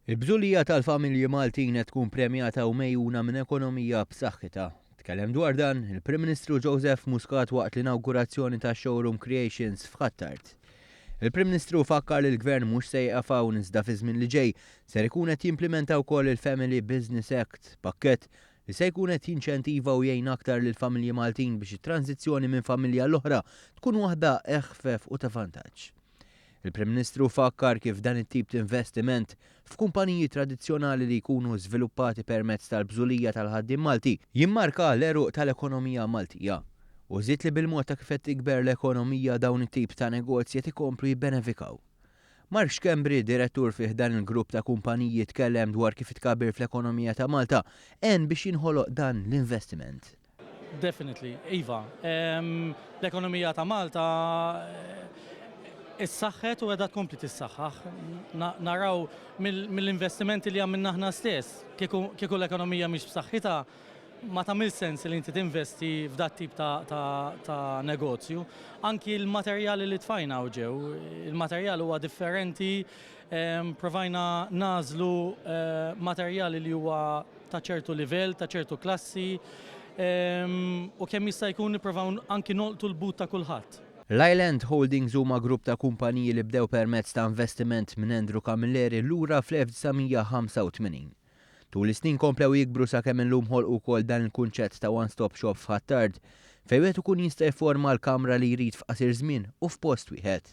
Il-bżulija tal-familji Maltin qed tkun premjata u megħjuna minn ekonomija b'saħħitha. Tkellem dwar dan, il-Prim Ministru Joseph Muscat waqt l-inawgurazzjoni tax-showroom Creations f'Ħ'Attard. Il-Prim Ministru fakkar li l-Gvern mhux se jieqaf hawn iżda fiż-żmien li ġej ser ikun qed jimplimenta wkoll il-Family Business Act, pakkett li se jkun qed jinċentiva u jgħin aktar lill-familji Maltin biex it-tranżizzjoni minn familja għall-oħra tkun waħda eħfef u ta' vantaġġ. Il-Prim Ministru fakkar kif dan it-tip t'investiment f'kumpaniji tradizzjonali li jkunu żviluppati permezz tal-bżulija tal-ħaddiem Malti jimmarka l-għeruq tal-ekonomija Maltija u żied li bil-mod ta' kif qed tikber l-ekonomija dawn it-tip ta' negozji qed ikomplu jibbenefikaw. Mark Schembri, direttur fi ħdan il-grupp ta' kumpaniji tkellem dwar kif it-tkabbir fl-ekonomija ta' Malta għen biex jinħoloq dan l-investiment. Definitely, iva. L-ekonomija ta' Malta issaħħet u qiegħda tkompli tissaħħaħ. Naraw mill-investimenti li għamilna aħna stess. Kieku l-ekonomija mhix b'saħħitha, ma tagħmilx sens li inti tinvesti f'dat-tip ta' negozju. Anki l-materjali li tfajna hawn ġew, il-materjal huwa differenti, provajna nagħżlu materjali li huwa ta' ċertu livell, ta' ċertu klassi, u kemm jista' jkun nipprovaw anki nolqtu l-but ta' kulħadd. Ryland Holdings huma grupp ta' kumpaniji li bdew permezz ta' investiment minn Andrew Camilleri lura fl-1985. Tul is-snin komplew jikbru sakemm illum ħolqu wkoll dan il-kunċett ta' one stop shop f'Ħ'Attard fejn wieħed ikun jista' jifforma l-kamra li jrid f'qasir żmien u f'post wieħed.